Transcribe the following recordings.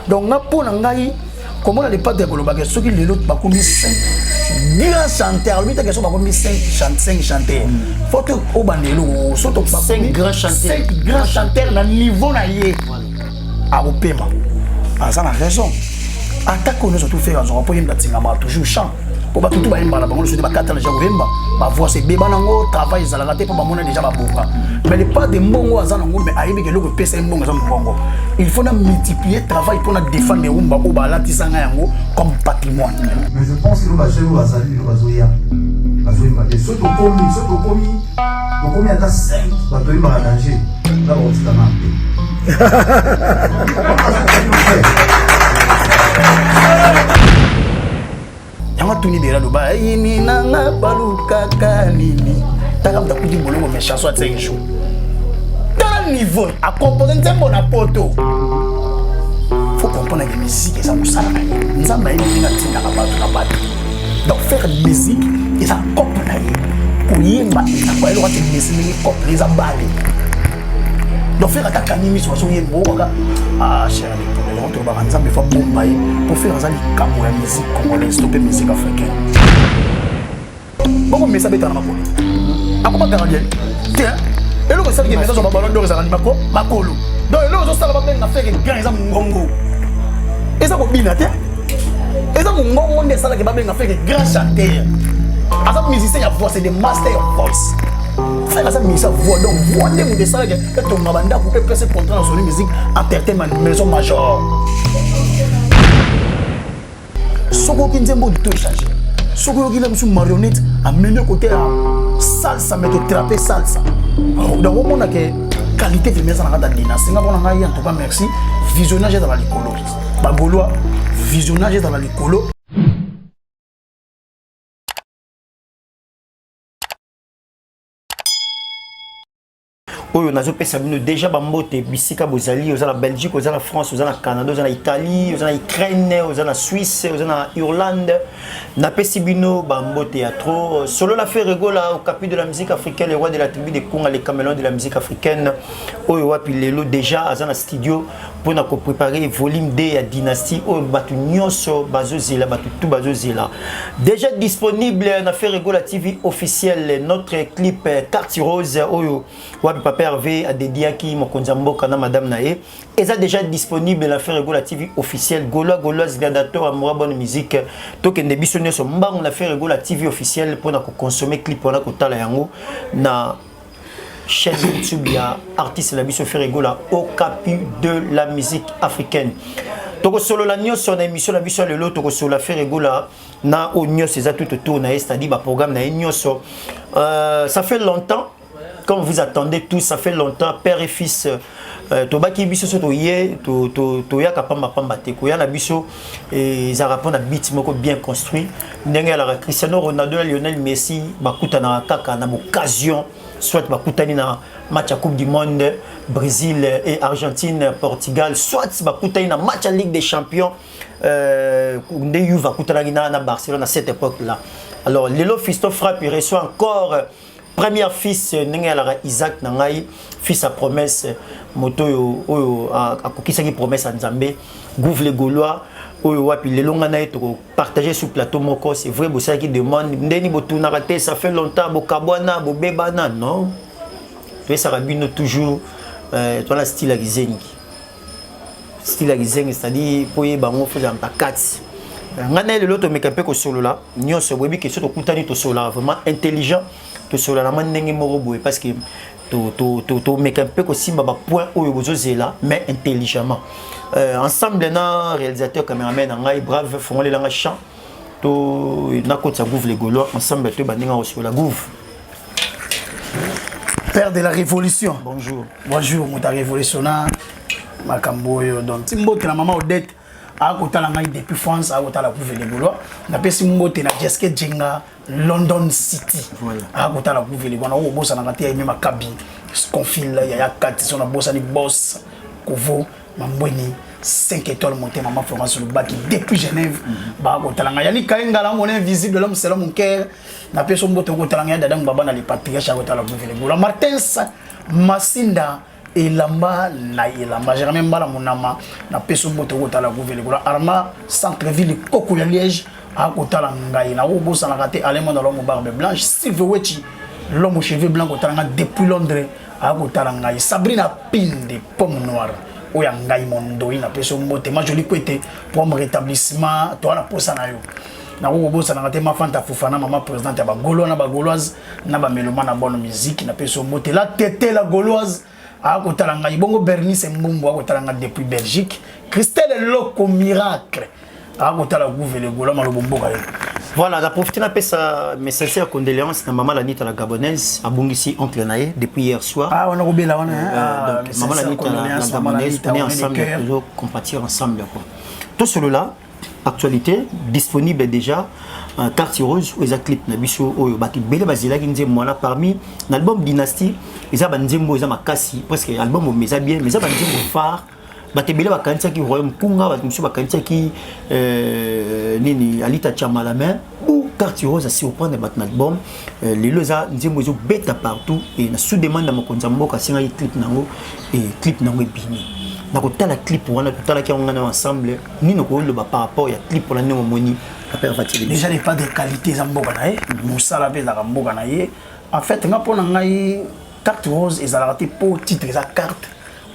donc nga mpo na ngai komona lipate ya kolobaka soki lelo bakomi 5 grand chanteur alobi take so bakomi 5 chanteur fo to obanda eloko so to grand chanteur na niveau na ye akopema aza na raison atako nyonso tofeka azwaka mpo yemba tingama toujours chant po bato tu bayemba na bango nyonso te bakata deja koyemba bavoix ebeba nango travail ezalaka te mpo bamona deja babonga mais le pas de mbongo aza nango mais ayebi ke eloko epesa ye mbongo eza mbongo il faut na multiplier travail mpo na défendre erumba oyo balatisa ngai yango comme patrimoine mais je pense que bajeune oyo bazali lelo bazoya bazoyemba te soki tokomi soki tokomi tokomi ata 5 bato oyembaka danger na bakotikana mpe Thank you. yango atuni bela loba yini nanga balukaka nini taka moto akuti bolongo mais chanson atia injo tala niveau akompose nzembo na poto faut comprendre que musique eza mosala na ye nzambe ayebi ndenge atindaka bato na bato donc faire musique eza cope na ye koyemba eza koyeloko ati mesi ndenge cope eza bale donc faire atakani miso azoyemba okaka ah, yango tolobaka nzambe fa bomba ye mpo fere aza likambo ya musique congolaise to mpe musique africaine boko mesa betana makolo akoma gardien te eloko esalaki mesa zoba balon dor ezalaka ni makolo donc eloko ezosala babenga na fere grand eza mongongo eza kobina te eza mongongo nde esalaki babenga fere grand chanteur aza musicien ya voix c'est de master voice fere aza musicien voix donc voix nde moto esalaki etonga bandako mpe pese contrat na soni musique aperte ma maison major soki oyoki nzembo oyo to echange soki oyoki na biso marionnette ameli kote ya salsa me totrape salsa donc omona ke qualité vraimen eza na kati ya dina senga mpona ngai en tout cas merci visionnage ezala likolo bagolois visionnage ezala likolo oyo nazopesa bino deja bambote bisika bozali oza na belgique oza na france oza na canada oza na italie oza na ukraine oza na suisse oza na irlande napesi bino bambote ya trop solo la fer egola au capi de la musique africaine le roi de la tribu de conga le camelon de la musique africaine oyo wapi lelo deja aza na studio mpo na koprepare volume 2 ya dynastie oyo bato nyonso bazozela bato tu bazozela déjà disponible na ferre gola tv officiel notre clip carte rose oyo wapi papa herve adediaki mokonzi ya mboka na madame na ye eza déjà disponible na ferre gola tv officiel golois goloise gladiator amoura bonne musique tokende biso nyonso mbangu na ferre gola tv officiel mpo na kokonsome clip wana kotala yango na chaîne YouTube ya artiste na biso Ferre Gola au capu de la musique africaine. Toko solo la nyo sur na émission la biso lelo toko solo la Ferre Gola na au nyo c'est tout autour na c'est-à-dire ba programme na nyo so. Euh, ça fait longtemps comme vous attendez tous ça fait longtemps père et fils euh, tobaki biso so toye to to to yaka pamba pamba te koya na biso ezalaka mpona bit moko bien construit ndenge alaka cristiano ronaldo na lionel messi bakutanaka kaka na boccasion soit bakutani na match ya coupe du monde brésil et argentine portugal soit bakutani na match ya ligue des champions euh, nde yuve akutanaki na, na barcelone à cette époque là alors lelo fisto frappe reçoit encore premier fils euh, ndenge yalaka isaac na ngai fils ya promesse euh, moto oyo oyo akokisaki promesse ya nzambe gouve le gaulois oyo wapi lelo ngai na ye tokopartage sur plateau moko c'est vrai bosalaki demande ndeni botunaka te ça fait longtemps bokabwana bobebana non toyesaka bino toujours euh, toala style ya kizengi style ya kizengi c'est-à-dire mpo oyeba yango fo ozalaka kati ngai naye lelo tomeka mpe kosolola nyonso boyebi ke so tokutani tosolola vraiment intelligent tosolola na mwa ndenge moko boye parce que tomeka mpe kosimba bapoint oyo bozozela mais intelligemment euh, ensemble na réalisateur cameraman na ngai brave fongolela ngai champ nakotisa gouve le gaulois ensemble toyeba ndenge akosolola gouve père de la révolution bonjour bonjour moto arévolutionna makambo oyo donc ti mbote na mama odette akotala ngai depuis france akotala couve de gaulois napesi mbote na jeske jenga london city akotala couve de gaulois okobosanaka te aime makabi confil yaya kati so nabosani bos kovo mambweni 5 étoiles monté maman florence lobaki depuis genève mhm. bakotala ngai yani kaengala mona invisible l'homme selon mon cœur na peso mboto okotala ngai dada baba na le patriarche akotala buvele gola martins masinda elamba na elamba germain mbala monama na peso mboto okotala buvele gola arma centre ville koko ya liège akotala ngai na obosanaka te alemo na lomo barbe blanche silve wechi lomo cheveux blanc kotala ngai depuis londres akotala ngai sabrina pinde pomme noire oyo ya ngai mondoi na peso mbote majoli kwete po rétablissement toa na posa na yo nakoki kobosanaka te ma fanta fufana mama présidente ya bagolois na bagoloise na bameloma na bonne musique na peso mbote la tete la goloise akotala ngai bongo bernice mbumbu akotala ngai depuis belgique christelle loko miracle akotala guve le golois malobo mboka ye voilà naprofite napesa mes sincères condoléances na mama lanita la gabonaise abungisi oncle na ye depuis hier soir ah, wana kobela wana euh, ah, mama lanita la gabonaise on est ensemble tozo compatir ensemble quoi tosolola actualité disponible déjà euh, carte rose oyo eza clip na biso oyo bato ebele bazelaki nzembo wana parmi na album dynastie eza banzembo eza makasi presque album oyo eza bien mais eza banzembo phare bato ebele bakanisaki royaume kunga bato mosusu bakanisaki euh, nini alita chamala mais ou quartier rose à surprendre bato na album euh, lelo eza nzembo ezobeta partout e na sous demande ya mokonzi ya mboka asengaki clip na yango e clip na yango ebimi nakotala clip wana totalaki yango ngai na ensemble nini okoki loba par rapport ya clip wana ndenge omoni apere fatili déjà n'est pas de qualité eza mboka na ye mosala mpe ezalaka mboka na ye en fait nga mpo na ngai carte rose ezalaka te mpo titre eza carte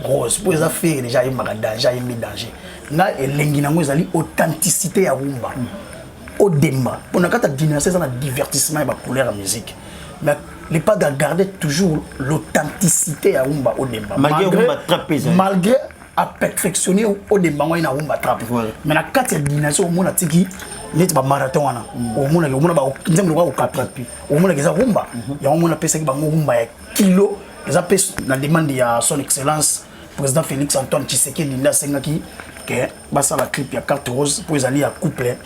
rose mpo eza fere déjà ayembaka danger ayembi danger nga elengi na yango ezali authenticité ya rumba mm. au demba on a kata dynastie ça na divertissement et ba couleur musique mais les pas à garder toujours l'authenticité à Umba au demba malgré Umba trap malgré à perfectionner au demba on a Umba trap mais la carte ya dynastie au monde tiki neti ba marathon wana mm. au monde au monde ba nzambe au kapra au monde keza Umba mm-hmm. ya au monde pesa ki bango Umba ya kilo eza pe na demande ya son excellence Président Félix Antoine Tshisekedi nda sengaki que basala clip ya carte rose pour ezali ya couple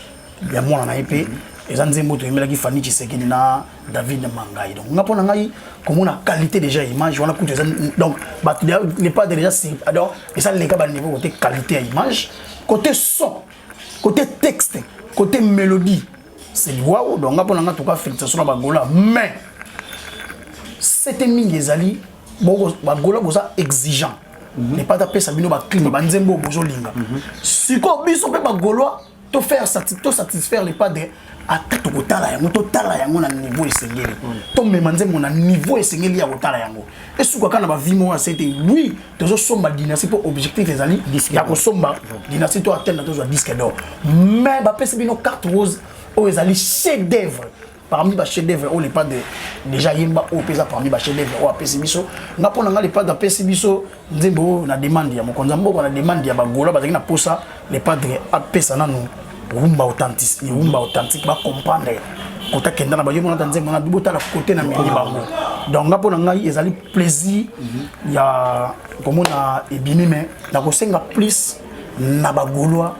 ya mwana na ye mpe eza nzembo toyemelaki Fanny Tshisekedi na David Mangai donc nga mpo na ngai komona qualité déjà ya image wana kutu eza donc bato le pas déjà donc eza leka baniveau kote qualité ya image côté son côté texte côté mélodie c'est liwao donc nga mpo na ngai toka félicitation na bagola mais sete mingi ezali boko bagola boza exigeant mhm. epa tapesa bino baclime banzembo oyo bozolinga mhm. sikoyo biso mpe bagolois to faire to satisfaire les pas de ata tokotala yango totala yango na niveau esengeli mhm. tomema nzembo na niveau esengeli ya kotala yango esukaka na bavi moko ya sete oui tozosomba dynastie mpo objectif ezali ya kosomba dynastie to atteindre tozwa disque d'or mais bapesi bino carte rose oyo ezali chef d'œuvre parmi ba chef d'œuvre oyo lepadre déjà yemba oyo mpe eza parmi ba chef d'œuvre oyo apesi biso nga mpo na nga lepadre apesi biso nzembo oyo na demande ya mokonzi ya mboka na demande ya bagola bazalaki na mposa lepadre apesa nanu rumba authentique rumba authentique bacomprendre kota kenda na bayo monata nzembo na bibotala kote na meli bango donc nga mpo na ngai ezali plaisir mhm. ya komona ebimi me nakosenga plus na bagolois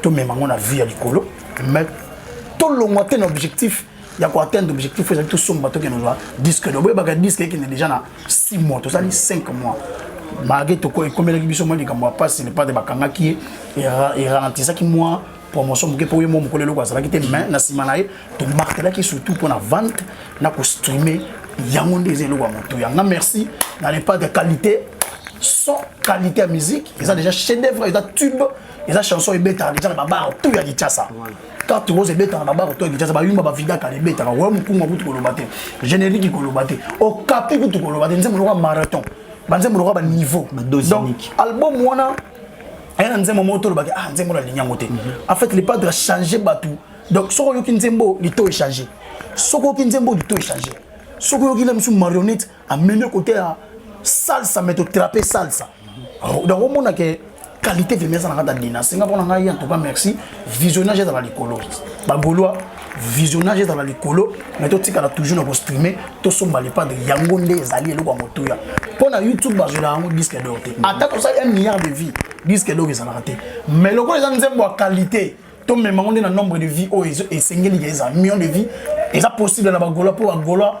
tomema yango na vie ya likolo mais tolongwa te na objectif ya koatteindre objectif oyo ezali tosomba tokende ozwa disque do boyebaka disque ekende déjà na 6 mois tozali 5 mois malgré toko ekomelaki biso mwa likambo ya mpasi lepate bakangaki ye eralentisaki mwa promotion moke mpo ye mwa mokolo eloko azalaki te mais na nsima na ye tomartelaki surtout mpo na vente na kostreame yango nde eza eloko ya motu yanga merci na lepate ya qualité sans qualité ya musique eza déjà chef d'œuvre eza tube eza chanson ebetaka deja na babaro tout ya kinshasa carte rose ebetaka na babaro tout ya kinshasa bayumba bavidaka na ebetaka oyo mokungu akutu koloba te générique koloba te okapi kutu koloba te nzembo lokola marathon banzembo lokola baniveau donc album wana aya na nzembo moko tolobaki ah nzembo nalingi yango te mhm. en fait le padre achange bato donc soki oyoki nzembo lito echange soki oyoki nzembo lito echange soki oyoki na misu marionnette amemi kote ya salsa me totrape salsa oh, donc omona ke qualité vraimen eza na kati ya dina senga mpo na ngai en tout cas merci visionnage ezala likolo bagolois visionnage ezala likolo mais totikala toujours na kostreame tosomba lepade yango nde ezali eloko ya motuya mpo na youtube bazwela yango disque dor te ata tosali 1 milliard de vie disque dor ezalaka te mais lokola eza nzembo ya qualité tomema yango nde na nombre de vie oyo esengeli ezala million de vie eza possible na bagola mpo bagola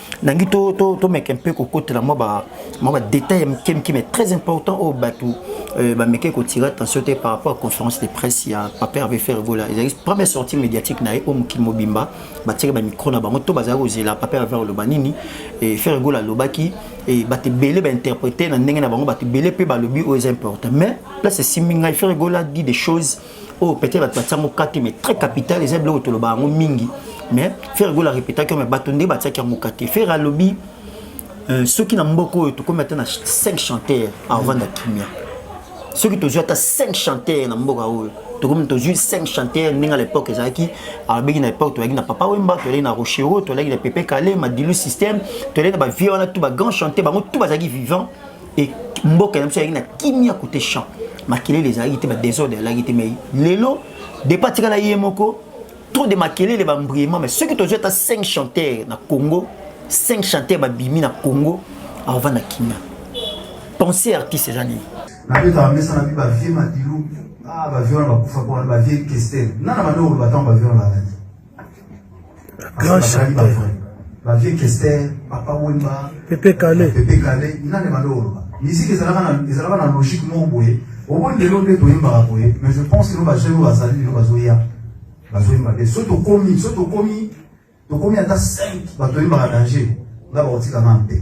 nangi to to to meke mpe kokotela mwa ba mwa ba détails ya mike mike mais très important oyo bato euh, bameke kotira attention te par rapport à conférence de presse ya papa herve fergola ezalaki première sortie médiatique na ye oyo mokili mobimba batiaki bamikro na bango to bazalaki kozela papa herve aloba nini fergola alobaki bato ebele bainterprete na ndenge na bango bato ebele mpe balobi oyo eza important mais place esimbi ngai fergola dit des choses oyo peut-être bato batia moka te mais très capital eza biloko tolobaka yango mingi mais ferre gola arepetaki mais bato nde batiaki yango moka te ferre alobi euh, soki na mboka oyo tokomi ata na 5 chanteur aovanda kimia soki tozwi ata 5 chanteur na mboka oyo tokomi tozwi 5 chanteur ndenge na époque ezalaki alobaki na époque tozalaki na papa wemba tozalaki na rochero tozalaki na pepe kale madilu système tozalaki na bavie wana tout bagrand chanteur bango tout bazalaki vivant et mboka na biso ezalaki na kimia kote champ makelele ezalaki te badesordre ezalaki te mai lelo depa atikala ye moko trop de makelele bambriema mai soki tozwi ata 5 chanteur na congo 5 chanteur babimi na congo aova na kimia pensé artiste eza nini nabeta bamesa na bi bavie madilu ah, bavie wana bakufa mpona bavie kestel nana bande oloba ntango bavie wana balaki Grand chanteur. Ba vie Kester, Papa Wemba, Pepe Kale. Pepe Kale, nani maloro. Musique ezalaka na ezalaka na logique moko boye. Obo lelo nde toyembaka boye, mais je pense que ba jeunes oyo bazali lelo bazoya. Bazoyemba te. Soki tokomi, soki tokomi, tokomi ata 5 bato oyembaka danger, nga bakotika nanu te.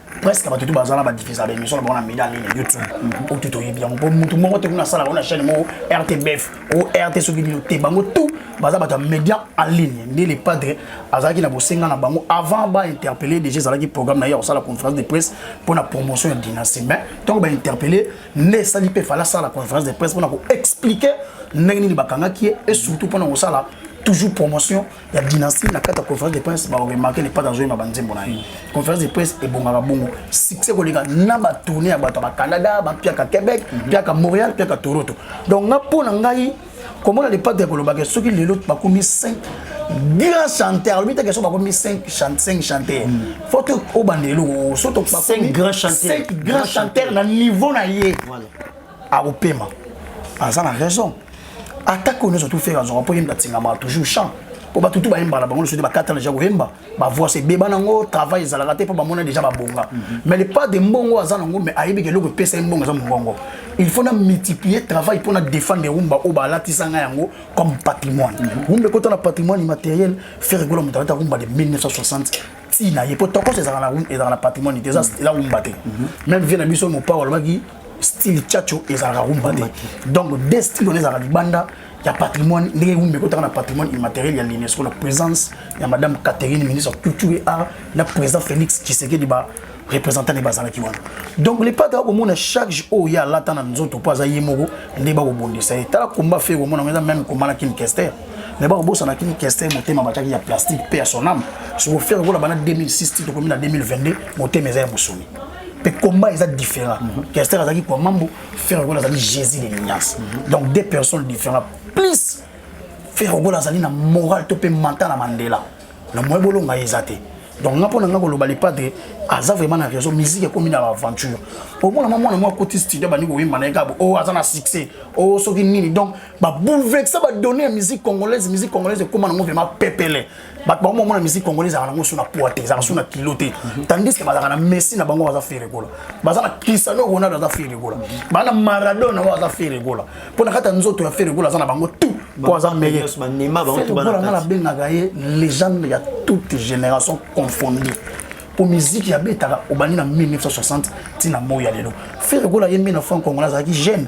presque bato tu baza na badifisa ba émission na bango na mida nini youtube oyo tu toyebi yango po motu moko te kuna asalaka na chaîne moko rtbf o rt soki nini te bango tout baza bato ya média en ligne nde le padre azalaki na bosenga na bango avant bainterpelle déjà ezalaki programme na ye ya kosala conférence de presse mpo na promotion ya dynastie mais ntango bainterpelle nde esali mpe fala asala conférence de presse mpo na koexplike ndenge nini bakangaki ye et surtout mpo na kosala toujours promotion ya dynastie na kati ya conférence de presse baoremake lepata azoyema banzembo na ye conférence de presse ebongaka bongo succès koleka na batourne ya bato ya bacanada bapiaka québec piaka montréal piaka toronto donc nga mpo na ngai komona lepata ya kolobaka soki lelo bakomi 5 grand chanteur alobi te question bakomi 5 5 chanteur faut obanda eloko soto 5 grand chanteur na niveau na ye akopema aza na raison atako nyonso tufere azwaka mpo yemba atingamaka toujours champ mpo bato tu bayemba na bango nyonso te bakata deja koyemba bavoice ebeba nango travail ezalaka te mpo bamona deja babonga mhm. mais le pas de mbongo aza nango mais ayebi ke eloko epesa ye mbongo eza mongongo il faut na multiplier travail mpo na défendre rumba oyo balatisa ngai yango comme patrimoine mhm. rumba ekota na patrimoine immatériel fere gola moto alata rumba de 1960 ntina ye mpo tokos ezalaka na patrimoine te eza wumba te même vie na biso mopao alobaki style chacho ezalaka rumba te donc de style wana ezalaka libanda ya patrimoine ndenge rumba ekotaka na patrimoine immatériel ya l'unesco na présence ya madame catherine ministre ya culture et art na président félix tshisekedi ba représentant nde bazalaki wana donc lepate akomona chaque jour oyo ye alata na nzoto mpo aza ye moko nde bakobondisa ye tala komba fe komona ngo eza meme komba na kini kester mais bakobosana kini kester motema batiaki ya plastique mpe ya soname sokofere kola bana 2006 ti tokomi na 2022 motema eza ya mosuni mpe combat eza différent mhm. kester azalaki kwa mambo ferre gola azali jésus de l'ignace mhm. donc deux personnes différentes plus ferre gola azali na moral to mpe manta na mandela na moye bolonga ye eza te donc nga mpo na nga koloba lepadre aza vraiment na raison musique ekomi na aventure omona mwa mwana mwa akoti studio bandi koyemba na ye kabo o oh, aza na succès o oh, soki nini donc baboulevexa badonne ya musique congolaise musique congolaise ekóma nango vraiment pepele bato bango bamona musique congolais ezalaka nango so na poids te ezalaka so na kilo te tandis que bazalaka na messi na bango baza fere gola baza na cristiano ronaldo aza fere gola baza na maradona na bango aza fere gola mpo na kati ya nzoto ya fere gola aza na bango tout mpo aza meyegola nga nabengaka ye legende ya toute génération confondue mpo miziki abetaka obandi na 1960 ntina moi ya lelo fere gola ye 1900 congolais azalaki jeune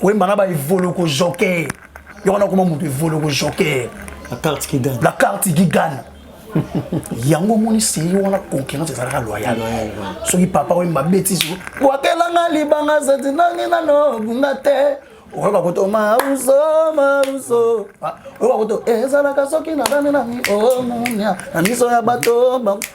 koyemba na baevoloko joker yo wana okoma moto evoloko joker la carte qui gagne la carte qui gagne yango omoni serie wana concurrence ezalaka loyal soki papa oyo mabetisi bwakelanga libanga zati nangi nano bunga te oyoka koto mauso mauso ah, oyoka koto ezalaka soki nadani nani omunia oh, na miso ya bato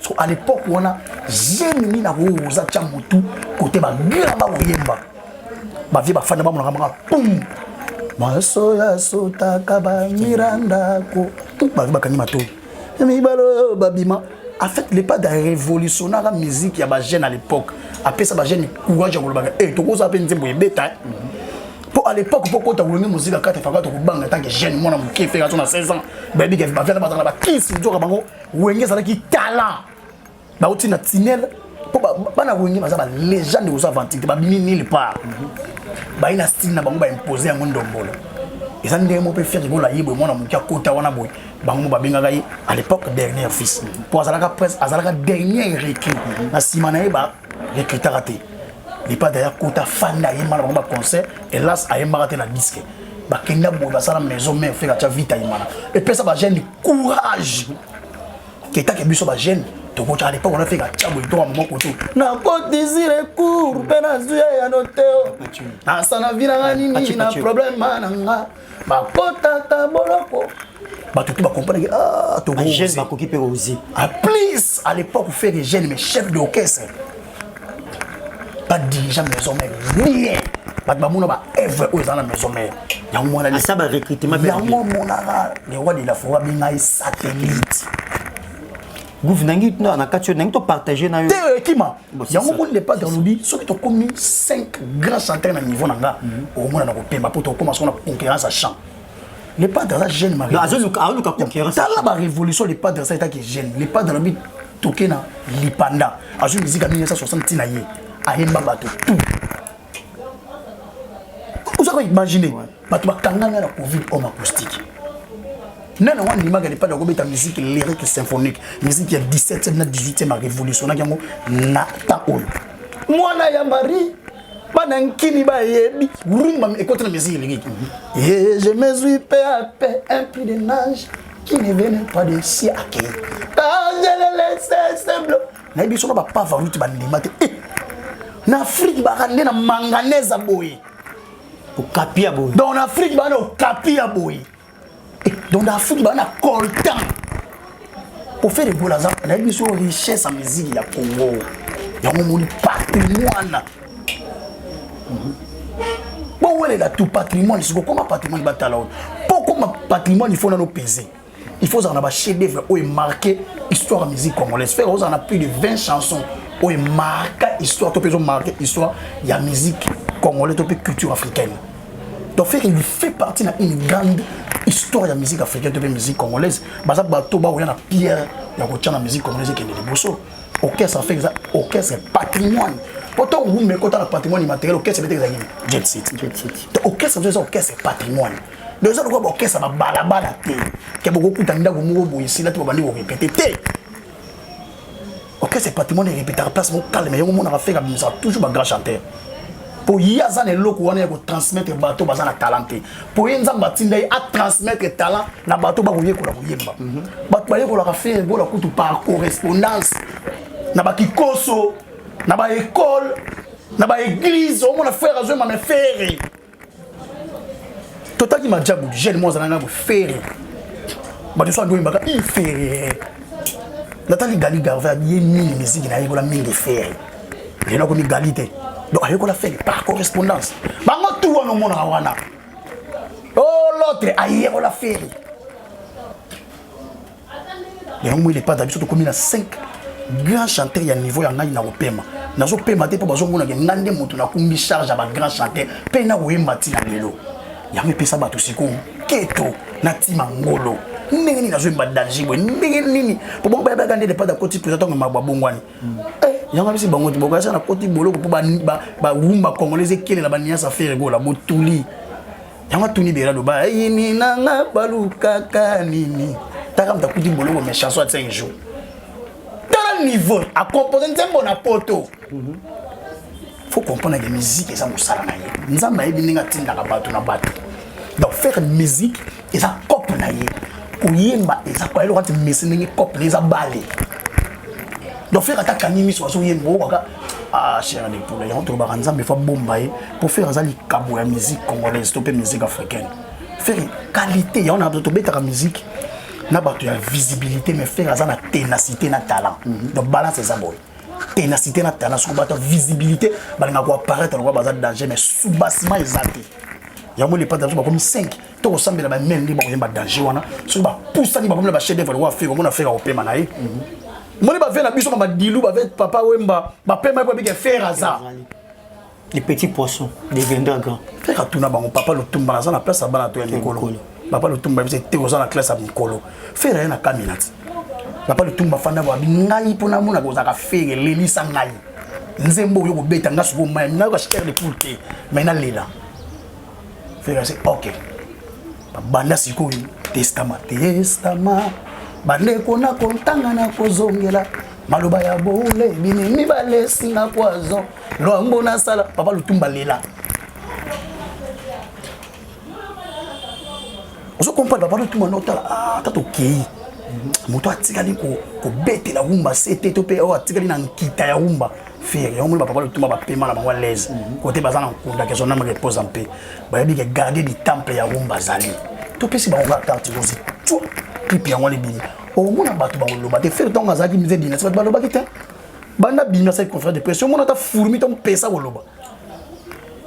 so à l'époque wana zemi nini akoyo oza tya motu kote bagrand bakoyemba bavie bafanda bamonaka maka pum maso ya sotaka bamira ndako bavie bakangi matoi mibale oyo babima en fait le pas de révolutionnaka musique ya bajeune à l'époque apesa bajeune courage ya kolobaka e eh, tokozala mpe nzembo ebeta eh. mpo à l'époque mpo kota kolongi mozika kati faka tokobanga ntanke jeune mwana moke fekatso na 16 ans bayebi bavia na bazala bakisi nzoka bango Wenge azalaki talent bauti na tunnel mpo bana wenge baza ba legende koza aventure te babimi nil part bayi na style na bango baimpose yango ndombolo eza ndenge moko mpe fiaki bola ye boye mwana moke akota wana boye bango mo babengaka ye à l'époque dernière fils mpo azalaka prince azalaka dernier recrue na nsima na ye ba recrutaka te Lipa d'ailleurs kota fanda ye mala ba concert hélas a yemba te na disque ba kenda bo ba sala maison mère fait ka vita imana et pesa ba jeune courage que ta ke biso ba jeune to ko tala l'époque on a fait ka tabo to mo ko to na ko désir court pena zuya ya noteo na sana vina nini na problème mananga bakotaka boloko bato tout bakomprendre ah, tojeune bakoki mpe ozi ah, plus à l'époque faire des jeunes mais chef d'orchestre pas dirigeant maison mère rien bato bamona baevre oyo eza na maison mère yango mwanasa barecrutement yango monaka le roi de la forêt abengai satellite Gouv nangi tuna na kati nangi to partager na yo. Te euh, kima. Yango ko le pas dans lobi soki to komi 5 grands chanteurs na niveau na nga mhm. au moins na ko pemba pour to koma sona concurrence à chant. Le pas dans la jeune Marie. Azo luka azo luka concurrence. Tala ba révolution le pas dans ça etaki jeune. Le pas dans lobi toke na lipanda. Azo musique à 1960 tina ye. Ayemba bato tout. oza koimagine bato bakangami na covid homme acoustique nana wana ndimaka lepade akobeta musique lyrique symphonique musique ya 17e na 18e arevolutionaki yango na temps oyo mwana ya marie bana nkini bayebi rumba ekoti na musique lyrique ye je me suis pe a pe un puits de nage qui ne venait pas de siake quand je le laisse simple nayebi soko bapavaruti bandima te eh! na afrike baka nde na manganese boye okapi ya boye donc na afrike baa na okapi ya boye eh, donc na afrike baa na coltan kofe regola aza nayebi biso richesse ya miziki ya congo yango moni patrimoine bowelela tu patrimoine sikokoma patrimoine batala oyo mpo okoma patrimoine ifo nano pese il faut ozala na bachef d'œuvre oyo emarke histoire ya musique congolaise fere ozala na plus de 20 chansons oyo emarka histoire to mpe ezomarke histoire ya musique congolaise to mpe culture africaine donc fere il fait partie na une grande histoire ya musique africaine to mpe musique congolaise baza bato baoya na pierre ya kotya na musique congolaise ekende liboso orchestre fere eza orchestre patrimoine po ntango gumba ekota na patrimoine immatériel orchestre ebetaka eza nini jet city orchestre eza orchestre patrimoine donc eza lokola baokesa babalabala te ke bokokuta ndako moko boye esila te babandi korepete te orchestre ya patrimoine erepetaka place moko calme yango omonaka feka bimisaka toujours bagrand chanteur mpo ye aza na eloko wana ya kotransmettre bato baza na talent te mpo ye nzambe atinda ye atransmettre talent na bato bakoyekola koyemba mhm. bato bayekolaka fere bola kutu par correspondance na bakikoso na baekole na baeglize omona fere azwemame fere totaki majabu jeune moko azalanga ko ferre bato nyonso andi oyembaka i ferre natali gali garve abiye mingi miziki nayekola mingi ferre lelo akomi gali te donc ayekola ferre par correspondance bango tu wana omonaka wana o oh, lotre ayekola ferre yango moi lepata biso tokomi na 5 grand chanteur ya niveau ya ngai na kopema nazopema te mpo bazomonake ngai nde moto nakumbi charge ya bagrand chanteur mpe na koyemba ti na lelo yango epesa bato sikoyo keto na tima ngolo ndenge nini azoyemba danger boye ndenge nini po bango bayebaka nde depart akoti mpenza ntango mabo abongwani hmm. eh, yango abisi bango te bokasa nakoti boloko mpo bawumba congolais ekelela baniasa fere gola botuli yango atuni bela loba ayini nanga balukaka nini taka moto akuti boloko mais chanson ya 5 jours tala niveau akompose nzembo na poto faut comprendre que musique eza mosala na ye nzambe ayebi ndenge atindaka bato na bato donc faire musique eza cope na ye koyemba eza kwa eloko ati mesi ndenge cope na ye eza bale donc faire ata kangi miso azoyemba okaka Ah, cher de poule, yango tolobaka nzambe efa bomba ye mpo fere aza likabo ya musique congolaise to mpe musique africaine fere qualité yango na tobetaka musique na bato ya visibilité mais fere aza na ténacité na talent mhm. donc balance eza boye ténacité na talent soki bato ya visibilité balingaka koapparaître lokola baza danger mais soubassement eza te yango lepata biso bakomi 5 to kosambela ba meme nde bakoyemba danger wana soki bapusani bakomi na bachef devre lokola fere omona fere akopema na ye moni bave na biso ma badilu bave papa wemba bapema ye po abike fere aza les petits poissons deviendra grand fere atuna bango papa lotumba naza na place ya bana to ya mikolo papa lotumba yebisa te oza na classe ya mikolo fere aye na kamina ti papa lotumba fanda boabi ngai mpo namona kozalaka fere lelisa ngai nzembo oyo kobeta ngai sikoyo mai nayoka chair de poule te mai nalela Ferre c'est ok. Banda sikoyo testama testama bandeko na kontanga na kozongela maloba ya boule bini mibale esinga poison lwambo nasala papa lutumba lela ozo comprendre papa lutumba notala ah, ata tokei moto atikali kobetela wumba se te to mpe oyo atikali na nkita ya wumba fere yango moni bapapa lotuma bapema na bango alaise kote mhm. baza na nkunda kezo nama repose en paix bayebi ke garde du temple ya rumba azali topesi bango kaka carte rose tu clip yango wana ebimi omona bato bakoloba te fere ntango azalaki mze binasi bato balobaki te banda bimi asali conférence de presse omona ata fourmi to mpesa koloba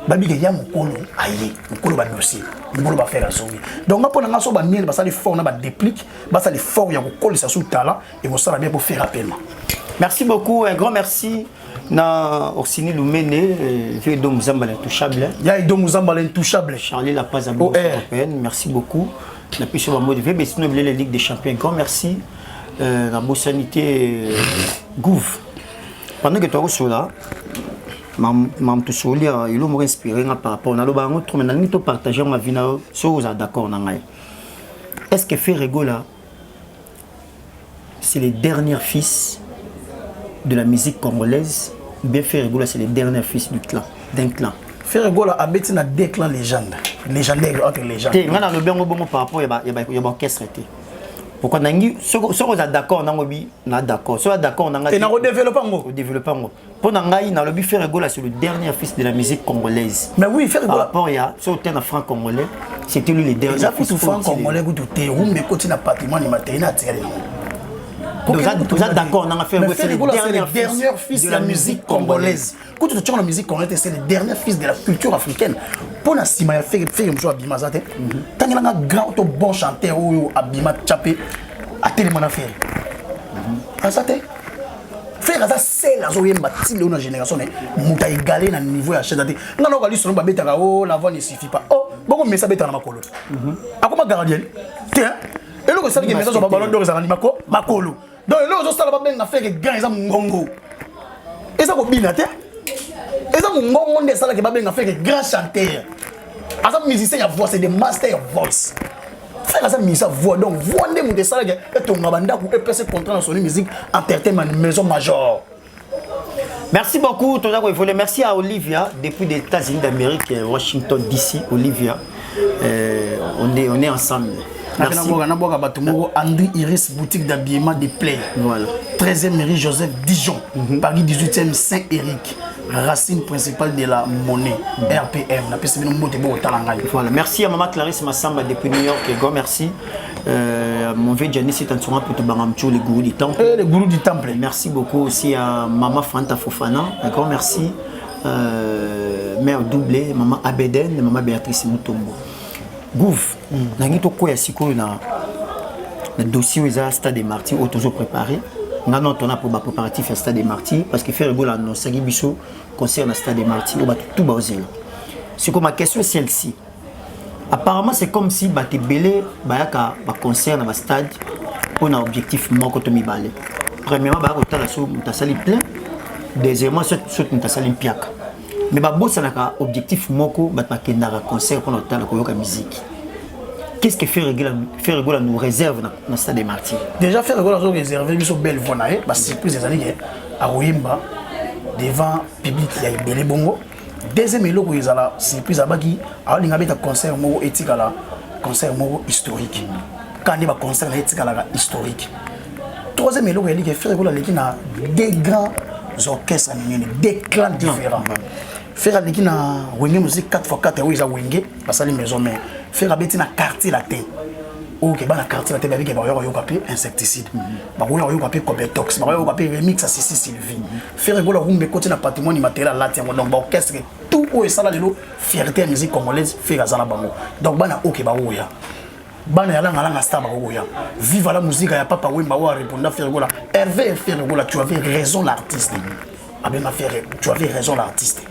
babike ya mokolo aye mokolo badosie mokolo bafere azongi donc nga mpo na nga so bamiele basali fort na badéplique basali fort ya kokolisa su tala ekosala bien pour faire appel merci beaucoup un grand merci na Orsini Lumene, euh, vieux Dom Zamba l'intouchable. Il y a Dom Zamba l'intouchable. Charlie La Paz à oh, eh. Merci beaucoup. La puissance de mode vieux, mais sinon, la Ligue des Champions. Grand merci. Euh, la Bossanité euh, Gouv. Pendant que tu as cela, mam tosoli elo moko inspiré nga par rapport naloba yango trop mais nalingi topartage yango avi na yo soki oza d'accord na ngai est ce que ferregola c'est le dernier fils de la musique congolaise ou bien Ferre Gola c'est le dernier fils du clan d'un clan Ferre Gola abeti na deux clans légende légendaire entre légende te nga nalobi yango bongo par rapport ya baorchestre te pourquoi nangi soki oza d'accord nango bi na d'accord soki d'accord nanga te nakodevelope yango odevelope yango mpo na ngai nalobi Ferre Gola c'est le dernier fils de la musique congolaise mais oui Ferre Gola par rapport ya so te na franc congolais c'était lui le dernier eza kutu franc congolais kutu te rumba ekoti na patrimoine immatériel atikali nango toza d'accord nanga Ferre Gola c'est le dernier fils de la musique congolaise kutu totyaka na musique congolaise c'est le dernier fils de la culture africaine mpo na nsima ya Ferre Ferre mosusu abima aza te mhm. tangelanga grand to bon chanteur oyo abima tya mpe atelema na Ferre mhm. aza te frère aza sel azoyemba ti leo na génération naye moto aegale na niveau ya chete te nga noko alisono babetaka o oh, la voix ne suffit pas o oh, boko mesa abetaka na makolo mhm. akoma gardien te eloko esalaki mesa azwa babalon dor ezalaka ni makolo donc eloko ezosala babenga frère grand eza mongongo eza kobina te eza mongongo nde esalaki babenga frère grand chanteur aza musicien ya voix c'est de master voice fela aza misa voix donc voix nde moto esalaki etonga bandako epesi contrat na soni musique entertainment maison major merci beaucoup toza koevole merci à olivia depuis des états-unis d'amérique euh, washington dc olivia euh, on, est, on est ensemble naboka bato moko andri iris boutique d'habillement de play voilà. 13e mairie joseph dijon mm -hmm. paris 18e saint éric racine principale de la monnaie rpm napesi bino mbote bokotala ngai voilà merci ya mama clarisse masamba depuis new york ego merci euh, mon vieux Janice est en train de Bangamcho, les gourous du temple. Eh, les gourous du temple. Merci beaucoup aussi à Maman Fanta Fofana. Un grand merci. Euh, mère doublée, Maman Abeden, Maman Béatrice Mutombo. gouv mm. nangi tokwea sikoyo na na dossier oyo eza stade de martyr oyo tozo préparé nga no tona mpo bapréparatif ya stade de martyr parce que ferre gola anonsaki biso concert na stade de martyr oyo bato tout baozela sikoyo ma question celle ci apparemment c'est comme si bato ebele bayaka baconcert na bastade mpo na objectif moko to mibale premièrement baya kotala so moto asali plein deuxièmement soki moto asali mpiaka mais babosanaka objectif moko bato bakendaka concert mpona kotala koyoka miziki qu'est-ce que faire regola faire regola nous réserve na, na stade des martyrs déjà faire regola zo réserver biso belle voix na ye ba surprise ezali ke akoyemba devant public ya ebele bongo deuxième eloko ezala surprise abaki aolinga beta concert moko etikala concert moko historique kaka nde baconcert na ye etikalaka historique troisième eloko ya like ferre ekola aleki na deux grands orchestre minene deux clans différents ferre aleki na wenge musique 4 fois 4 oyo eza wenge basali maison mare ferre abeti na quartier latin oyo keba na quartier latin babike bakoya koyoka mpe insecticide bakoya koyoka mpe cobetox bakoya koyoka mpe remix ya sisi sylvie ferre ekola kumba ekoti na patrimoine matériel alati yango donc baorchestre tout oyo esala lelo fierté ya musique congolaise ferre aza na bango donc bana oyo ke baoya bana ya langa langa star bakokoya viva la musica ya papa wemba oyo areponda ferre gola herve ferre gola tu avais raison l'artiste abenga ferre tu avais raison l'artiste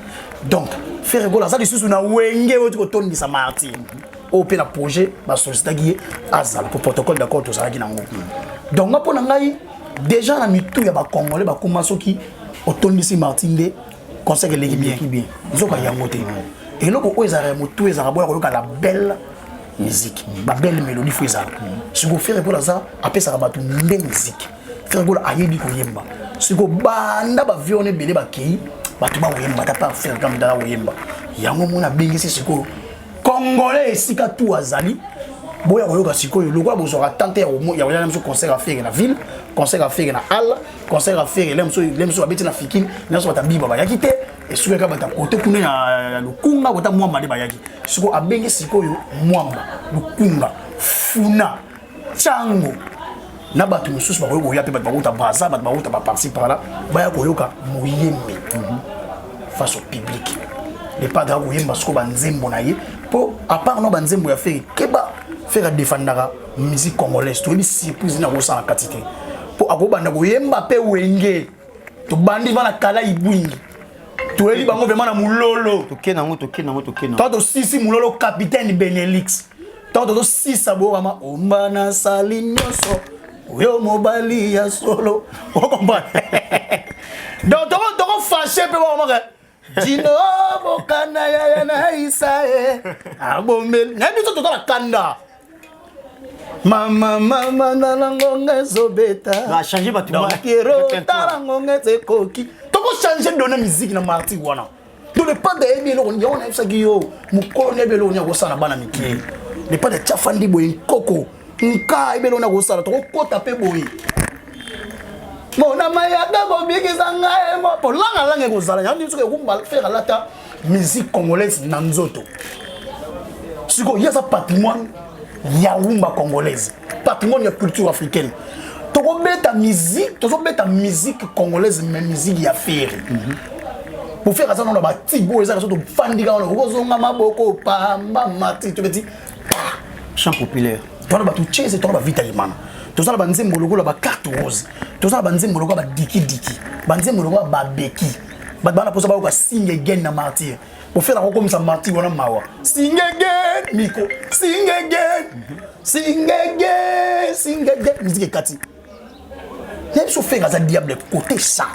donc ferre gola aza lisusu na wenge oyo tikotondisa martin oyo mpe na projet basolicitaki ye azala mpo protocole d'accord tozalaki nango donc nga mpo na ngai déjà na mitu ya bacongolais bakoma soki otondisi martin nde conseil eleki bien nzoka yango te eloko oyo ezalaka ya motu ezalaka boya koyoka la belle musique ba belle mélodie fo ezala siko fere gola aza apesaka bato nde musique fere gola ayebi koyemba siko banda bavie wana ebele bakei bato bakoyemba ata par fere kambe dala koyemba yango mona abengisi sikoyo congolais esika tu azali boya koyoka sikoyo lokola bozwaka tante ya koyala biso concert ya fere na ville concert ya fere na halle concert ya fere lem so lem so abeti na fikini nionso bata biba bayaki te esukaka bata kote kuna ya lukunga kota mwamba nde bayaki siko abenge sikoyo mwamba lukunga funa cango na bato mosusu bakoki koya mpe bato bakouta braza bato bakouta baparti parla baya koyoka moyembi mhm. face au public le padre akoyemba siko banzembo na ye mpo apart no banzembo ya fere keba fere adefandaka musique congolaise toyebi surprise nini akosala na kati te mpo akobanda koyemba mpe wenge tobandi va na kala ibwingi toyebi bango vraimen na mololo toke nango toke nango toke nango to tosisi mololo capitaine benelix ntango tozosisa bokama omba nasali nyonso oyo mobali ya solo okomprendre donc tokofashe mpe bakomaka dino bokana yaya na isa e abombeli na biso toza na kanda mama mama na langonga ezobetachange batokero tala ngonga ezekoki tokochange dona miziki na marti wana to lepanda yebi eloko nini yango nayebisaki yo mokolo nayebi eloko nini akosala na bana mike lepanda tyafandi boye nkoko nka ebele ona kosala tokokota mpe boye mona mayaka kobikisa ngai mpo langalanga ekozala yango nini soki ekumba fere alata musique congolaise na nzoto sikoyo ye aza patrimoine ya rumba congolaise patrimoine ya culture africaine tokobeta musique tozobeta musique congolaise mais musique ya fere mm -hmm. bofeka aza nano batigo ezaka so tofandika wana okozonga maboko pamba mati tobeti chant populaire twana bato chese twana bavita yemana toza na banzembo lokola bacarte rose toza na banzembo lokola badikidiki banzembo lokola babeki bato bana mposa bayoka singe gen na martyr ofela kokomisa martyr wana mawa singe gen miko singe gen singe gen singe gen miziki ekati ya biso fere aza diable kote sa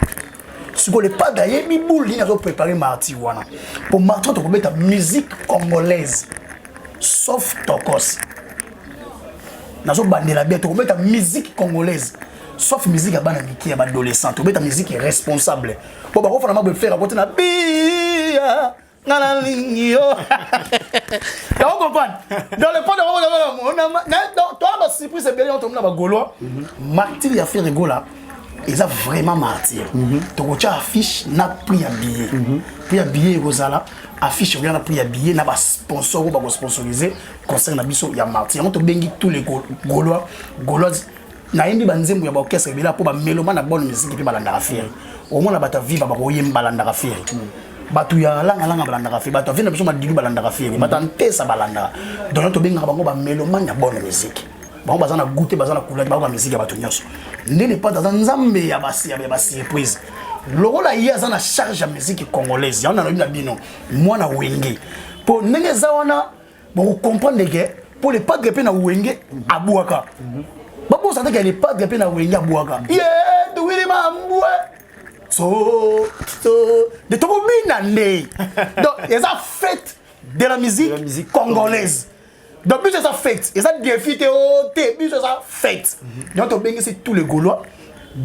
sikoyo le padre ayebi boule nini azo prépare martyr wana mpo martyr tokobeta musique congolaise sauf tokos nazobandela bien tokobeta musique congolaise sauf musique ya bana mike ya baadolescent tobeta musique responsable mpo bakofana mabwe fere akotina bia nga nalingi yo yango comprendre dans le point toa basurprise ebele yango tomona bagaulois martyr ya ferre gola eza vraiment martyr mhm. tokotya affiche na prix ya billet mhm. prix ya billet ekozala affiche oya na prix ya billet na basponsor oyo bakosponsorise concert na biso ya martyr yango tobengi tous les gaulois gauloise nayembi banzembo ya baorchestre ebela mpo bameloma na bonne musique mpe balandaka fere omona bato ya viva bakoyemba balandaka fere bato ya langalanga balandaka fere bato ya vina biso madilu balandaka fere bato ya ntesa balandaka donk tobengaka bango bamelomane ya bonne musique bango baza na goute baza na kulaki bayoka miziki ya bato nyonso nde lepate aza nzambe ya basurprise lokola ye aza na charge ya miziki congolaise yango nalobi na bino mwana wenge mpo ndenge eza wana boko comprendre ke mpo le padre mpe na wenge abwaka babosana ke le padre mpe na wenge abwaka ye tuwili mambwe so so de tokobina nde donc eza fete de la musique, de la musique congolaise donc biso eza fete eza défi te o oh, te biso eza fete donc tobengisi tous les gaulois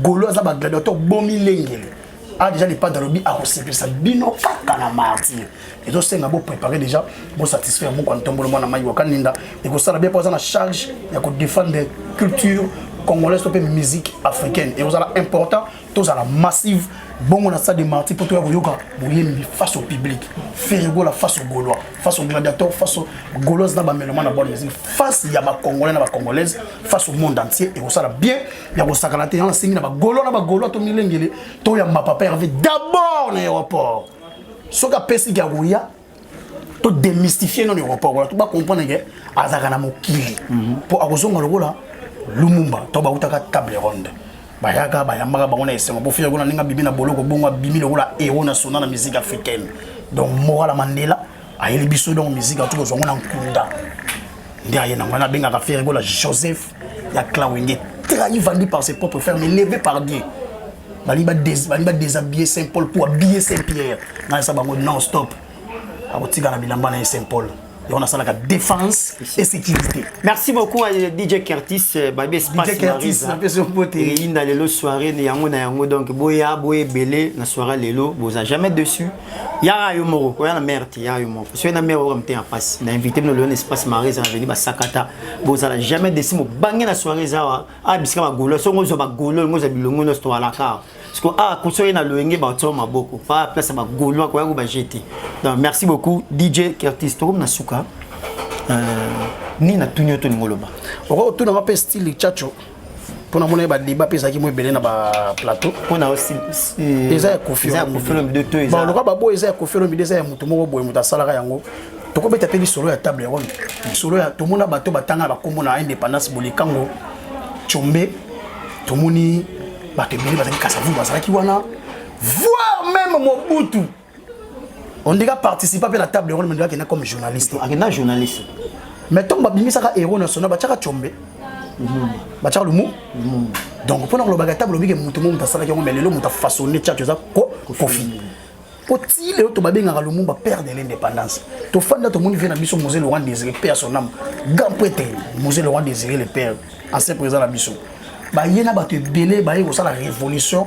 golo aza ba gladiateur bomi lengele a ah, déjà le padre alobi akosepelisa bino kaka na martyr ezosenga boprépare déjà bosatisfait ya moko ntombolo mwana mai wakaninda ekosala bien mpo aza na charge ya kodefendre culture congolaise to mpe musique africaine ekozala important tozala massive bongo na stade de martyr mpo toya koyoka boyembi face au public ferigola face au gaulois face au gladiateur face au gauloise na bameloma na bonne musique face ya bacongolais na bacongolaise face au monde entier ekosala bien ya kosakana te yango nasengi na bagolo na bagolo to milengele toyamba papa herve d'abord na aéroport soki apesiki ya koya to démystifie nano aéroport wana to bacomprendre ke azalaka na mokili mpo mhm. akozonga lokola lumumba to bautaka table ronde bayaka bayambaka bango na esengo mpo fia kuna ndenge abimi na boloko bongo abimi lokola hero na sona na musique africaine donc morala mandela ayeli biso donc musique atuki ozwango na nkunda nde aye nango wana abengaka fere gola joseph ya clawenge trahi vendu par ses propres frères mais levé par dieu balingi badéshabille saint paul mpo abille saint pierre nayesa bango non stop akotika na bilamba na ye saint paul et on a ça la défense et sécurité. Merci beaucoup à DJ Curtis, euh, Babi Espace DJ Curtis, na peso pote. Et inda lelo soirée ni yango na yango donc boya boye belé na soirée lelo, boza jamais dessus. yaka yo moko oya na mare te yaka yo moko soki na mare oyoka motema mpasi na invité bino leon espace mare eza na veni basakata bozala jamais desi mobange na soirée eza awa awa bisika bagolo soki ozwa bagolo olingo ozwa bilongo nyonso towalaka awa parceke awa koso ye na loyenge baotio maboko pa place ya bagolo akoya ko baje te donc merci beaucoup dj kertis tokomi na suka euh, nini natuni yo tolingo loba okotuna mape style chacho mpo na mona ba débat mpe ezalaki mo ebele na ba plateau mpo na euh, eza ya kofioloka baboyo eza ya kofi olomide eza ya motu moko boye moto asalaka yango tokobeta mpe lisolo ya table ronde lisolo ya tomona bato batanga bakombo na indépendance bolikango combe tomoni bato ebele bazalaki kasavu bazalaki wana voir même mobutu on dirait participa mpe na table ronde mendaki na comme journaliste akenda journaliste mais ntango babimisaka héros national batiaka combe batiaka lumu donc mpo na kolobaka table olobike moto mo moto asalaki yango mais lelo moto afaçonne tiaki oza kofi mpo ti lelo to babengaka lumumba père de l'indépendance tofanda tomoni vie na biso mose laurent désiré père son âme grand prêtre mose laurent désiré le père ancien président na biso baye na bato ebele baye kosala révolution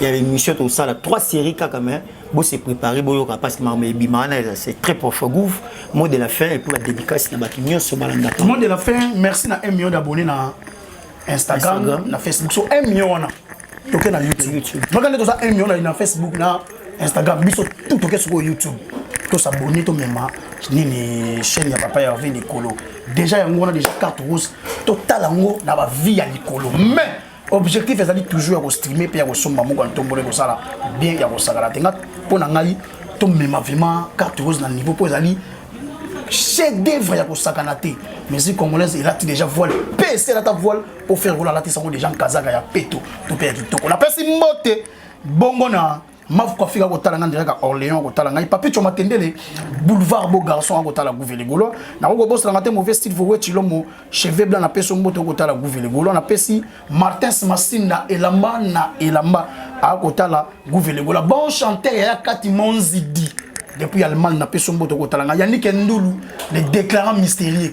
ya l'émission tosala trois séries kaka mais bo se préparer boyoka parce que makambo ebima wana eza c'est très profond gouv mot de la fin et puis badédicace na bato nyonso balandaka mot de la fin merci na 1 million d'abonné na instagram, instagram. na facebook so 1 million wana toke na youtube maka nde toza 1 million na facebook na instagram biso tout toke sikoyo youtube tosabone tomema nini chaîne ya papa herve likolo déjà yango wana déjà carte rose totala yango na bavie ya likolo mais objectif ezali toujours ya kostreame mpe ya kosomba moko ya ntombolo ekosala bien ya kosakana te nga mpo na ngai tomema vraiment carte rose na niveau mpo ezali chef d'œuvre ya kosakana te musique congolaise elati déjà voile mpe esi elata voile mpo faire kola alatisa yango déjà nkazaka ya peto to mpe ya kitoko napesi mbote bongo na mafu ko afika ko tala nga ndira ka Orléans ko tala ngai papi choma tendele boulevard beau garçon ko tala gouvele golo na ko bosa nga te mauvais style vowe chilomo cheveux blanc na peso mboto ko tala gouvele golo na pesi Martins Masinda elamba na elamba a ko tala gouvele golo bon chanteur ya kati monzidi depuis Allemagne na peso mboto ko tala nga Yannick Ndulu le déclarant mystérieux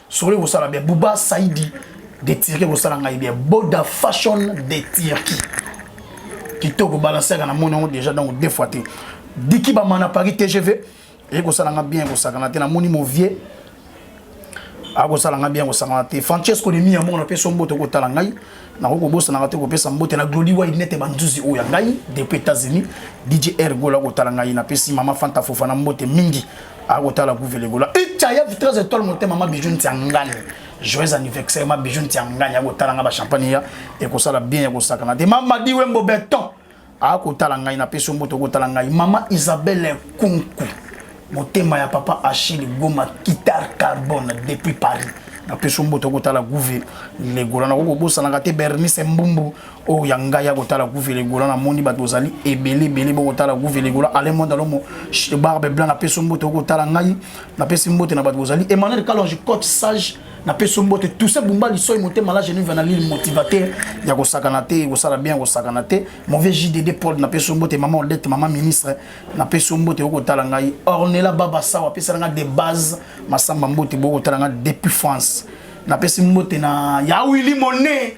solo ekosala bien buba saidi de turquie ekosala ngai bien boda fashion de turquie kitoko balansaka na moni yango déjà donc deux fois te diki bamana paris tgv ekosala ngai bien ekosakana te namoni movie akosala ngai bien kosangana te francesco de miyamongo na peso mboto kotala ngai nakoki kobosanaka te kopesa mbote na glodi wide nete banzuzi oyo ya ngai depuis états-unis dj r gola kotala ngai napesi mama fanta fofana mbote mingi akotala guvele gola ecaya vitrage étoile motema ma bijou nti ya ngani joyeux anniversaire ma bijou nti ya ngani akotala ngai bachampagne ya ekosala bien ya kosakana te mamadi wembo beton akotala ngai na peso mboto okotala ngai mama isabelle kunku motema ya papa achille goma guitare carbone depuis paris na peso mboto okotala guve legola nakoki kobosanaka te bernice mbumbu oyo ya ngai ya kotala guve legola namoni bato ozali ebele ebele bokotala guve legola ale monde alomo barbe blanc na peso mboto okotala ngai napesi mbote na bato bozali emmanuel kalonge cote sage na peso mbote tousa bumba lisoi motema la genuve na lile motivateur ya kosakana te kosala bien kosakana te mon vieux JDD Paul na peso mbote maman Odette maman ministre na peso mbote okotala ngai Ornella Baba Sawa pesa nga de base masamba mbote bokotala nga depuis France na pesi mbote na ya Willy Monet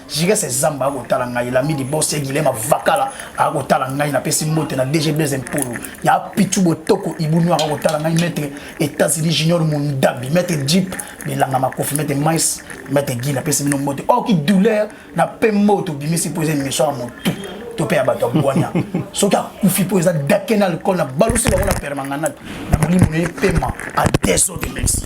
jika se zamba akotala ngai lami libose gilema vakala akotala ngai napesi mbote na dg blaise mpolo ya pichu botoko ibunu akotala ngai maître états-unis junior mundabi maître jeep bilanga makofi maître mais maître gi napesi bino mbote or oh, ki douleur na pe mbote obimisi mpo eza émission ya motu to mpe ya bato ya bwania soki akufi mpo eza dake na alcool na balusi bango na permanganate na molimo na ye pema a desode merci